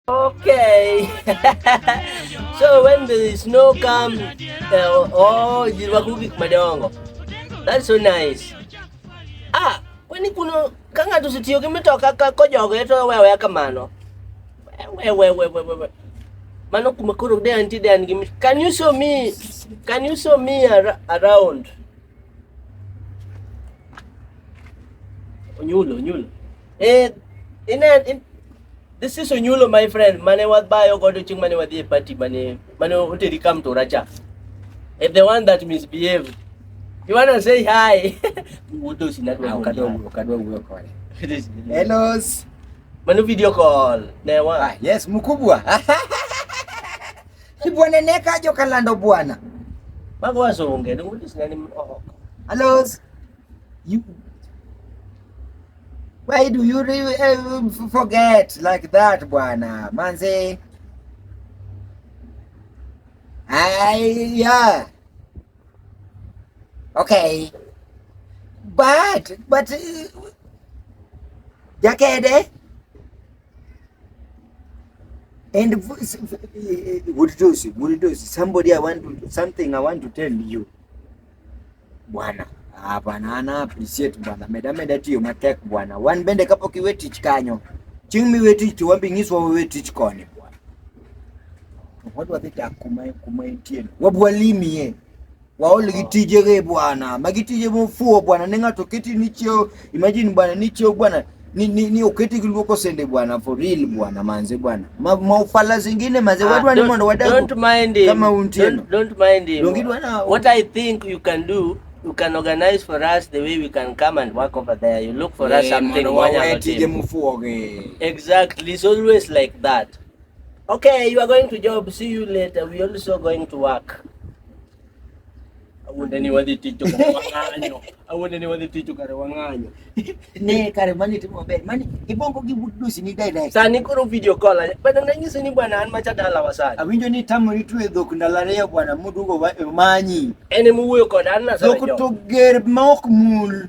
Okay. so when the snow come, uh, oh, jiwakugi madongo. That's so nice. Ah, kwani kuno ka ng'ato osetiyo gi mitoka ka kojogo to wewe kamano. Wewe wewe wewe. Mano kuma koro de anti de an gi Can you show me? Can you show me around? Onyulo, onyulo. Eh, in, in, this is Onyulo my friend mane wabayo godo chieng' mane wadhi e party mane mane oteri kam to racha. Eh, the one that misbehaved. You wanna say hi? Wuoto sinadwa. Ah, ukadwa ukadwa wuoyo kode. Hello. Mano video call. Ne wa. Ah, yes, mkubwa. Ibwana neka ajo kalando bwana. Bago wazo unge ni ulis nani mhoka. Alos. You Why do you really eh, forget like that bwana? Manze. Ay, yeah. Okay. But but uh, Jakede And Muridosi, Muridosi, somebody I want to, something I want to tell you. Bwana, hapana ah, ana appreciate bwana. Meda meda tiyo matek bwana. Wan bende kapo ki wetich kanyo. Ching mi wetich to wambi ngiswa we wetich koni bwana. Wadwa dhita kuma kuma intien. Wabwalimi ye. waol gi tije ge bwana, magi tije mofuo bwana, ne ng'ato keti ni cheo, imagine bwana ni cheo bwana ni, ni, ni uketi kiluoko sende bwana for real bwana manze bwana ma, maufala zingine manze ah, watu wani mondo wadagu don't mind him. kama untino don't, don't mind him Dongi dwana, what I think you can do you can organize for us the way we can come and work over there you look for yeah, us something mondo wawetije mufuoge exactly it's always like that Okay, you are going to job. See you later. We also going to work. Awuonde ni wadhi tich to kare wang'anyo. Awuonde ni wadhi tich to kare wang'anyo. Ne kare mani timo maber. Mani ibongo gi budusi ni dai dai. Sani koro video call. Bana nanyisi ni bwana an macha dala wa sani. Awinjo ni tamo ni tuwe dhok ndalo ariyo bwana mudugo wa manyi. En muwuoyo kod an na sani. Dhok to ger ma ok mul.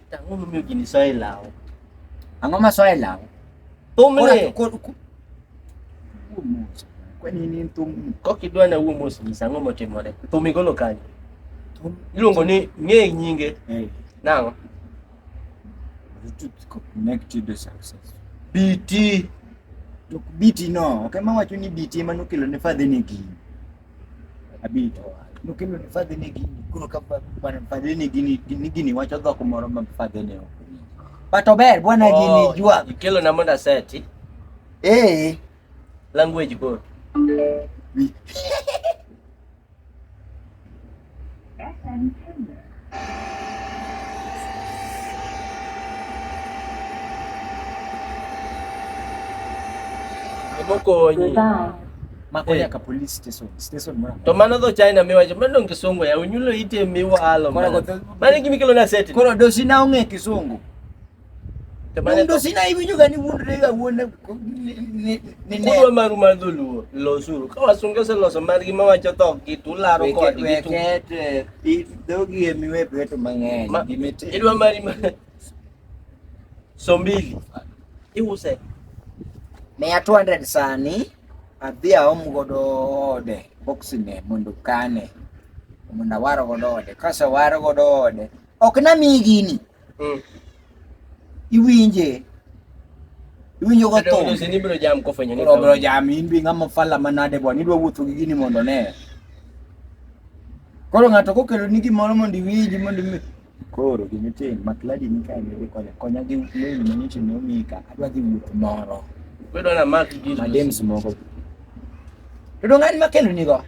Tango mi ogini soe lawo. Ang'o ma soe lawo? Thumni. Kwani ni thum. Kok idwa na wuo mos nyisa ang'o motimore. Thum igolo kanye? Thum iluongo ni ng'e nyinge. Hey. Nang'o? Bluetooth connected to success. BT. Tok BT no. Okay, mawacho ni BT ema nokelo ne fadhi ni gini. abiro to no kendo ni fadhi ne gini koro ka bwana fadhi ne gini ni gini wacho dhok moro ma fadhi ne ok but ober bwana oh, gini jua kelo na monda seti eh language go Mokonyi. Makonya ka police station. Station mwana. To mano do China miwa je mano ngisongo ya unyulo ite miwa alo. Mano kimikelo na seti. Kono do sina unge kisungu. Mundo sina hivi juga ni mundo ni gawone ni ni. Kuwa maru madulu lo suru. Kawa sunga se lo so margi ma wacho to ki tu laro ko di tu. Wekete i dogi e miwe peto mang'eny. Gimete. Idwa mari ma. Sombili. Iuse. Mia 200 sani adhi aom godo ode boxine mondo kane mondo awaro godo ode. Kasa waro godo ode. Ok na mi gini. Mm. Iwinje. Iwinjo ka tho. Ndio ni bro jam ko fwenyo ni. Bro bro jam in bi ngama fala manade bwana idwa wuotho gi gini mondo ne. Koro ng'ato kokelo ni gimoro mondo iwinji mondo imi koro gimitin makladi ni ka ni konya konya gi lewni manyicho ne omika adwa dhi wuoth moro. Bedo na mak gi. Madems moko. Bedo ng'ani makelo nigo.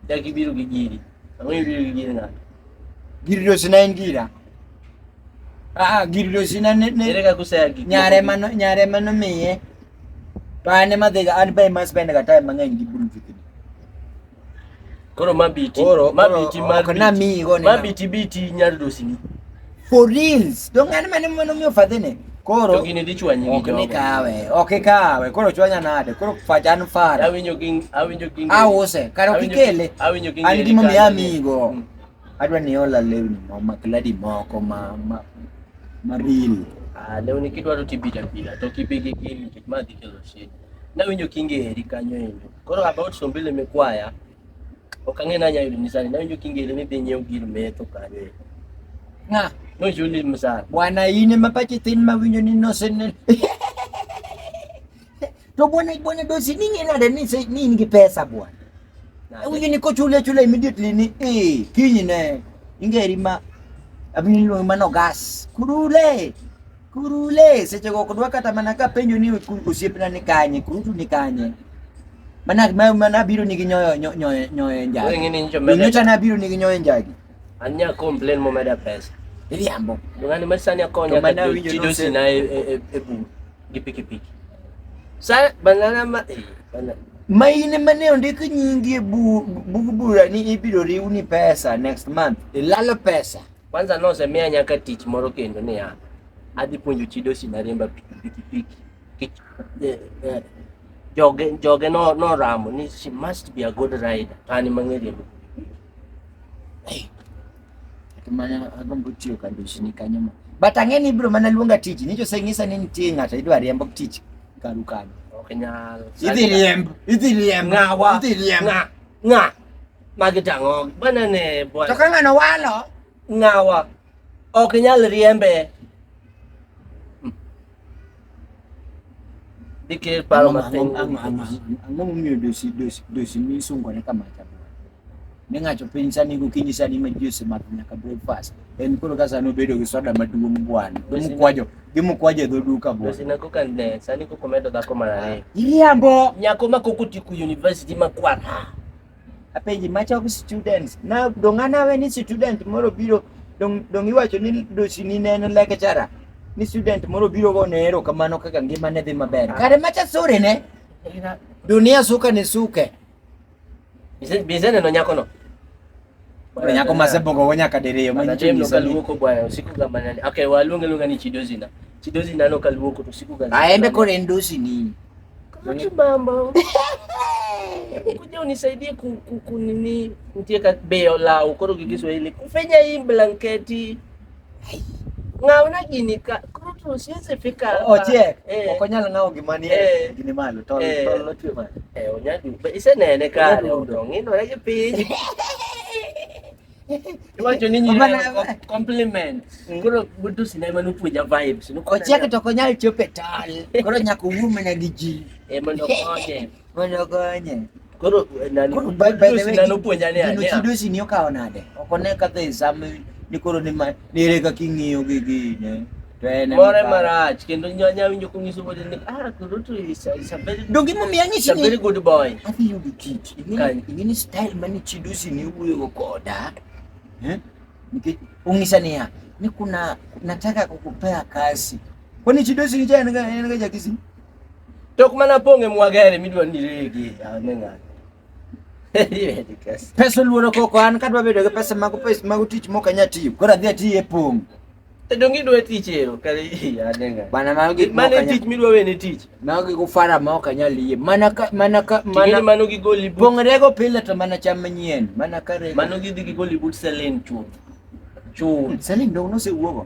Jaki biro gi giri. giriro zinaingira aa giriro zina ne- ne- Ere kaka useyagi gik nyare moko? mano nyare mano miye to an ema dhiga an be ema spend ga time mang'eny gi buru vikni Koro mabiti. Koro- mabiti koro- mabiti. ok namiyi go nena. Mabiti biti nyar dosini. For reals. Don't get many money me for the Koro to gini dichwa nyingi ok ni kawe, ok kawe. Koro chwanya nade? Koro fajan fara. Awinjo ging, awinjo ging. Awose, karo kikele. Awinjo ging. An gimo mi amigo. Mm. Adwa ni ola lewni mo makladi moko ma ma ma real. Ah, lewni kidwa to tibita bila, to kipigi gini kit ma dikelo shit. Nawinjo kinge heri kanyo endo. Koro about sombile mekwaya. Ok ang'e ni anyalo yudo misani. Nawinjo kingere ni dhi nyiew gir metho kanyo. Ng'a? Nochuli misani. Bwana in ema pachi thin ma winjo ni noseneno. To bwana bwana dosi ni ng'e nade ni se- ni in gi pesa bwana. Awinjo ni kochuli achula immediately ni eh kinyne ingeri ma abiro luongi mano gas. Kurule. Kuru le seche go kodwa kata mana ka penjo ni osiepna ni kanye, kuru tu ni kanye. Mana ma mana biro ni gi nyoyo nyoyo nyoyo njagi. Wewe ngini njo mele. Nyocha na biro ni gi nyoyo njagi. Anya complain mo meda pesa. Ili ambo. Ngani masani akonya ka chidosi na e e e bu. Gi piki piki. Sa banana ma eh banana. Ma ine mane ondik nyingi e bu bu bura ni ibiro riw ni pesa next month. Ilalo pesa. Kwanza nosemiya nyaka tich moro kendo niya, adhi puonjo chi dosi na riemba pikipiki. Kech- eh, eh, Joge joge no noramo ni she must be a good rider. To an ema ang'e riembo. Mana agombo tiyo ka ndoshini kanyo ma. But ang'e ni ibiro mana luonga tich. Nicho oseng'isa ni nitie ng'ato idwa riembo tich karu kanyo. Ok nyal. Idhi riemb, idhi riemb, Ng'awa. idhi riemb. Ng'a. Ng'a. Magi tang'o banane To bwana. ka ng'ano walo, Ng'awa ok nyal riembe. Dike paro Ang'o- matin. ang'o- ang'o- ang'o- ang'o- ang'o momiyo dosi dosi dosi misungore kama chabwa ne ng'ato piny sani gokinyi sani ma ji osemadho nyaka breakfast en koro ka sani obedo gi soda maduong' bwana gi Dosi- mukwajo gi mukwajo e dho duka bwana Dosi na koka ne sani koko medo dhako mar ariyo. iriambo Nyako ma koko tiku university ma kwara. Apenji macho gi students. Na dong' anawe ni student moro biro dong' dong' iwacho ni dosi ni ne en lecturer. Ni student moro biro go ne ero kamano kaka ngima ne dhi maber. Kare macha sore ne. Dunia suka ni suke. Bize bize neno nyako no. Bwana nyako masebo ko wonya kadiriyo ma Manatemo nyinyi sani. kaluoko bwana usiku ga manane. Okay, waluonge luonga ni chidozina. Chidozina no kaluoko to usiku ga. Aende kore ndosi nini? Kutu mambo. Kuja unisaidie ku, ku, ku nini nitie ka beyo lao koro gi Kiswahili. Kufenya hii blanketi. Ng'aw na gini ka. Koro to siwezi fika. Ochiek. Eh. Ok onyal ng'aw gima ni eh. gini malo. Tol eh. tol lotwe malo. Eh onyadu. Be isenene ka odo. Ngino re gi piny. Iwacho ni nyine compliment. Mm. Koro budu sinema nupuja vibes. Ochiek to ok onyal chope tol. Koro nyaka owuo mana gi ji. Eh mondo konye. Mondo okonye. Koro nani Koro by- by the way, nani opuonja ni Gino ania. chidosi ni okawo nade? Ok one ka the same ni koro ni ma nere ka king'iyo gi gine. To en More emakawo. marach kendo nyanya winjo kunyiso bote ni ah koro to is a, is a very Donge imomiyo is a anyisi very ni good boy. adhi yudo kit. Ing'eni Kanye. ing'eni style mane chidosi ni wuoyo koda. Eh? Nikech ong'isa niya ni kuna nataka kukupea kazi. Kwani chidosi ni cha en ga en ga jakisi? Tok mana pong'e mwagere midwa ni rege ane ng'ato. Pesa luoro koko an kadwa bedo gi pesa mago pesa mago tich mok anya tiyo. Koro adhi ati e pong'. To dongi dwa tich ero kare ane ng'ato. Bana mago gik moko. Mane tich midwa wene tich. Mago gigo fara ma ok anya liye. Mana ka mana ka mana mano gi goli. Pong're go pile to mana cham manyien. Mana kare. Mano gidhi gi goli but selin chuth. Chuth. Selin dong nosewuogo.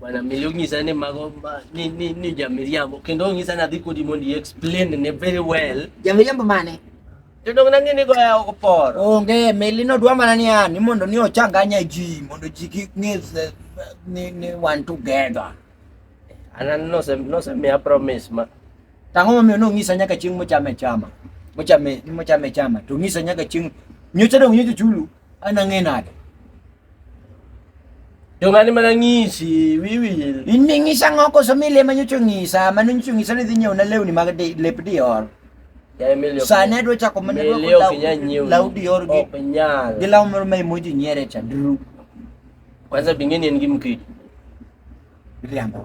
Bwana Milio nyisa ni mago ma- ni ni ni jamiriambo kendo nyisa ni adhi kodi mondo i explain ne very well. Jamiriambo mane? To dong nang'e ni goya oko por. Onge, meli no dwa mana ni an, ni mondo ni ochanganya ji, mondo ji kik ng'e se- ni, ni wan together. Anan nose nose miya promise ma Tang'o momiyo nong'isa nyaka chieng' mochame chama. Mochame, mochame chama. To ng'isa nyaka chieng' nyocha dong' nyocha chulu, an ang'e nade. Yung ano man ang ngisi, wiwil. Iningisa nga ako sa mili, man yung tsungisa, man yung tsungisa ni dinyo, na lew ni mga di, lep di or. Kaya milyo. Sana do cha ko man do ko law. Law di or gi. Openyal. Di law mo may mo di nyere cha dru. Kwanza bingine ngimki. Biliambo.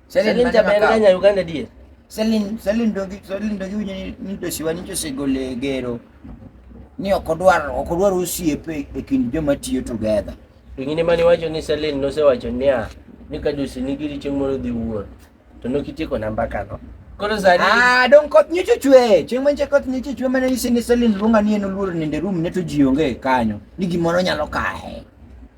Selin jaber ga nya Uganda die. Selin Selin dogi Selin dogi winyo ni ni dosiwa ni chosegole gero ni ok odwar ok odwar osiepe e kind joma tiyo together. Ingine mani wacho ni Selin nosewacho niya ni ka dosi nigi richo moro dhi wuor to nokitieko namba kano. Koro sani Ah, dong koth nyicho chwe. Chieng' manche koth nyicho chwe mane isi ni Selin luonga ni en oluoro nende room ne to ji onge kanyo. Ni gimoro nyalo kae.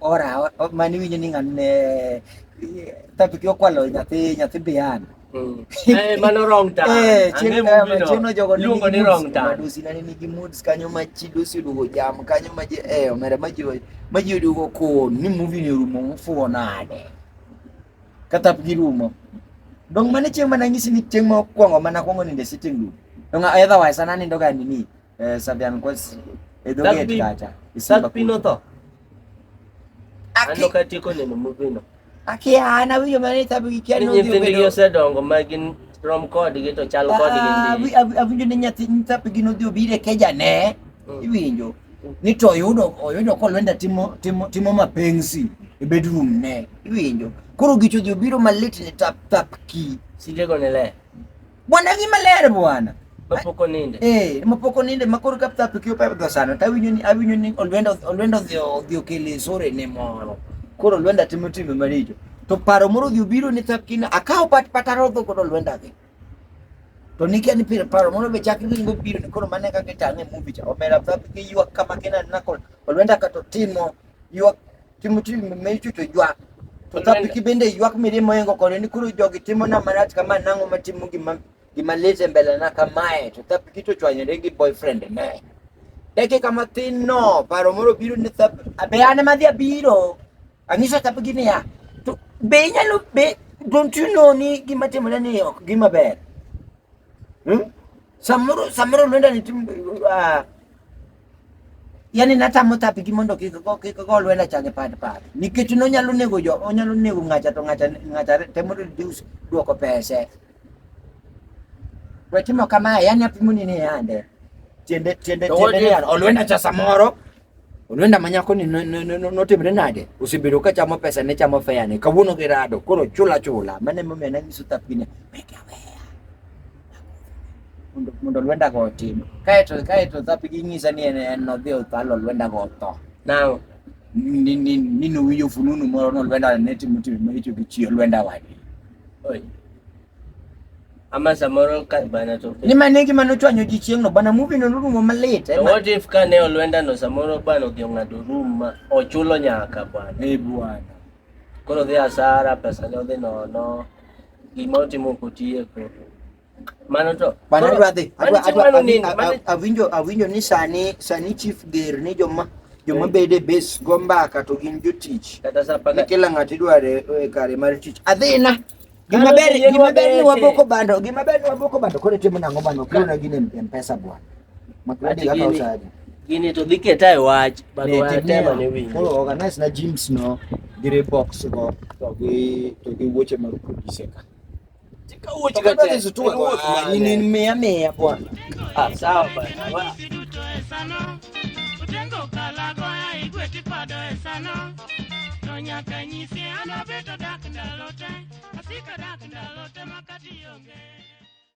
Ora, mani winjo ni ng'ano ne tabiki okwalo nyathi nyathi bian. Mm. Eh, mano wrong time. Eh, chieng'no jogo luongo ni wrong time. Dusi nani nigi moods kanyo ma chi dusi oduogo jam kanyo ma ji eh omera ma ji ma ji oduogo kon ni movie ni rumo mufuo nade. Kata girumo. Dong mane chieng' mana nyisi ni chieng' ma okwongo mana kwongo ninde sitting room. Dong otherwise ananindo ga nini Sabihan ko, edo get kacha. Isang pino to. Ano kati ko nino mo pino? Aki ana wi yo mani tabu ki ano di ko. Ni se dongo magin rom ko di gitu chal ko di gindi. Abi abi yo ninya tin tabu gino di obire keja ne. Hmm. Iwinjo. Ni to yudo oyudo ko lwenda timo timo timo mapenzi e bedroom ne. Iwinjo. Koro gicho di obiro malit ni tap tap ki. Sije ko ne le. Bwana gi maler bwana. Mapoko ninde. Eh, mapoko ninde makoro ka pta pikio pa pta sana. Ta winyo ni awinyo ni olwendo olwendo dhio dhio kele sore ne moro. Koro olwenda timo timo maricho. To paro moro dhio biro ni tapkina akawo pat pat arodho koro olwenda gi. To nikia ni pira paro moro be chakri ni biro ni koro mane kaka tang'e movie cha. Omera pta pikio kama kena nakol. Olwenda ka to timo ywak timo tich ma ichucho ywak to ka piki bende ywak mirimo yengo kode ni koro jogi timo na marach kama nang'o matimo gima gima lit e mbele na kamae to thapiki to chwanyore gi boyfriend ne dakika mathin no paro moro biro ni thap be an ema dhi abiro ang'iso thapiki niya to be inyalo be don't you know ni gima timore ni ok gima ber hmm? samoro samoro lwenda ni tim uh, yani natamo tapigi mondo kik go kik go lwela chage pad pad nikech no nyalo nego jo onyalo nego ngacha to ngacha ngacha temo reduce duoko pese we timo kama yani apimo ni ni ande tiende tiende tiende ni an olwenda cha samoro olwenda manyako ni notimre nade usibedo ka chamo pesa ne chamo fea ne kawuono gi rado koro chula chula mane momiyo nanyiso tapine weke awea mundu lwenda gotindu kaeto kaeto thapiging'isa ni eno thio thalo lwenda gotho nao nino winjo fununu moro no lwenda neti mutimi maricho gi chio lwenda wadi ama samoro ka bana to ni mane gima nochwanyo ji chieng'no bana muvi no norumo malit eh, what if ka ne olwenda no samoro bana odhi ong'ado rum ma ochulo nyaka bwana e bwana koro dhi asara pesa ne odhi nono Gima otimo ok otieko. Mano to. Mano adwa dhi. Adwa adwa awinjo awinjo ni sani sani chief ger ni joma joma bede base go mbaka to gin jotich. Kata sa paka. Kila ng'ato idware e kare mar tich. Adhina. Gima ber gima ber ni waboko bando. Gima ber ni waboko bando kore timo nang'o bando kuna gine mpesa bwana. Magradi kaka usadi. Gini to dhi keta e wach, but wa tema ne winjo. Koro organize na gyms no, dire box go, to gi to gi wuoche mag producer ka. Tika wuoche ka te su tuwa kwa. Ah, ni ni mea mea kwa. Ah, sawa ba. Utengo kala go ya igwe tipado esano. To nyaka nyisi anabeto dak ndalote. Asika dak ndalote makati yonge.